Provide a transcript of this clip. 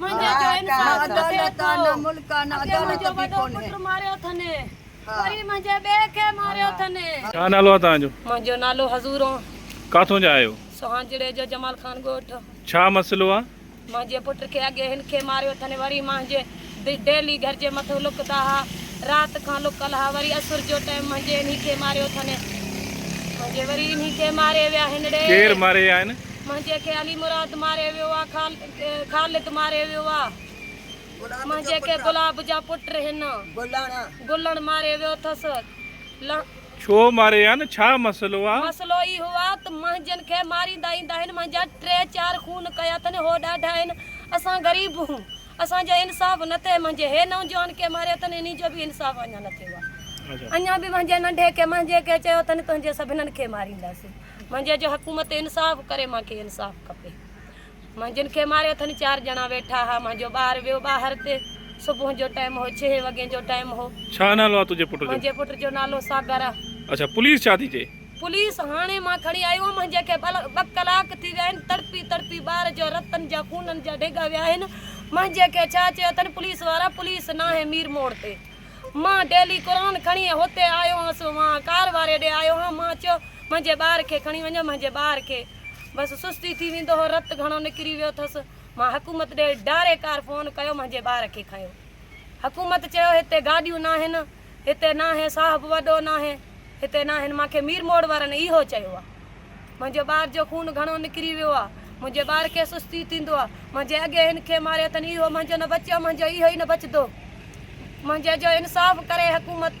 منهنجي جو انصاف نه ٿئي ٿو. اڳي منهنجو وڏو پٽ ماريو اٿن وري منهنجي ٻئي کي ماريو اٿن. ڇا نالو آ توهان جو؟ منهنجو نالو حضور آ. ڪاٿون جا آهيو؟ سوهانجڙي جو جمال خان ڳوٺ. ڇا مسئلو آ؟ منهنجي پٽ کي اڳي هن کي ماريو اٿن وري مهنجي به ڊيلي گهر جي مٿو لڪدا ها رات کان لڪل ها وري اسر جو ٽيم مهنجي انهي کي ماريو اٿن مهنجي وري انهي کي ماري ويا هينڙي. ڪير ماري ويا آهن؟ مهنجي کي علي مراد ماري ويو آ خال. خالد ماري ويو آ. منهنجي کي گلاب جا پٽ هن. گلڻ ماري ويو ٿس. ڇو ماري آن ڇا مسئلو آ. مسئلو اهو آ ته منهنجن کي ماريندا ايندا هن منهنجا ٽي چار خون ڪيا اٿن هو ڏاڍا هن اسان غريب هون اسان جو انصاف نه ٿئي منهنجي هي نوجوان کي ماريو اٿن انهي جو به انصاف اڃا نه ٿيو آ اڃا به منهنجي ننڍي کي منهنجي کي چيو اٿن تنهنجي سڀنن کي مارينداسين منهنجي جو حڪومت انصاف ڪري مان کي انصاف کپي. منهنجن کي ماري اٿن چار ڄڻا ويٺا ها منهنجو ٻار ويو ٻاهر تي صبح جو ٽائيم هو ڇهي وڳين جو ٽائيم هو. ڇا نالو آ تنهنجي پٽ جو؟ منهنجي پٽ جو نالو ساگر آ. اڇا پوليس ڇا ٿي چئي؟ پوليس هاڻي مان کڻي آيو هوم منهنجي کي ٻه ڪلاڪ ٿي ويا آهن تڙپي تڙپي ٻار جا رتن جا خونن جا ڊيگا ويا آهن منهنجي کي ڇا چيو اٿن پوليس وارا پوليس ناهي مير موڙ تي مان ڊيلي قرآن کڻي هتي آيو هانس وان ڪار واري ڏي آيو هان مان چيو منهنجي ٻار کي کڻي وڃو منهنجي ٻار کي بس سستي ٿي ويندو هو، رت گهڻو نڪري ويو ٿس، مان حڪومت ڏي ڊاري ڪار فون ڪيو منهنجي ٻار کي کنيو، حڪومت چيو هتي گاڏيون ناهن، هتي ناهي صاحب وڏو ناهي، هتي ناهن، مان کي مير موڙ وارن اهو چيو آ، منهنجي ٻار جو خون گهڻو نڪري ويو آ، منهنجي ٻار کي سستي ٿيندو آ، منهنجي اڳي هن کي ماريو اٿن اهو منهنجو نه بچيو منهنجو اهو ئي نه بچدو، منهنجي جو انصاف ڪري حڪومت.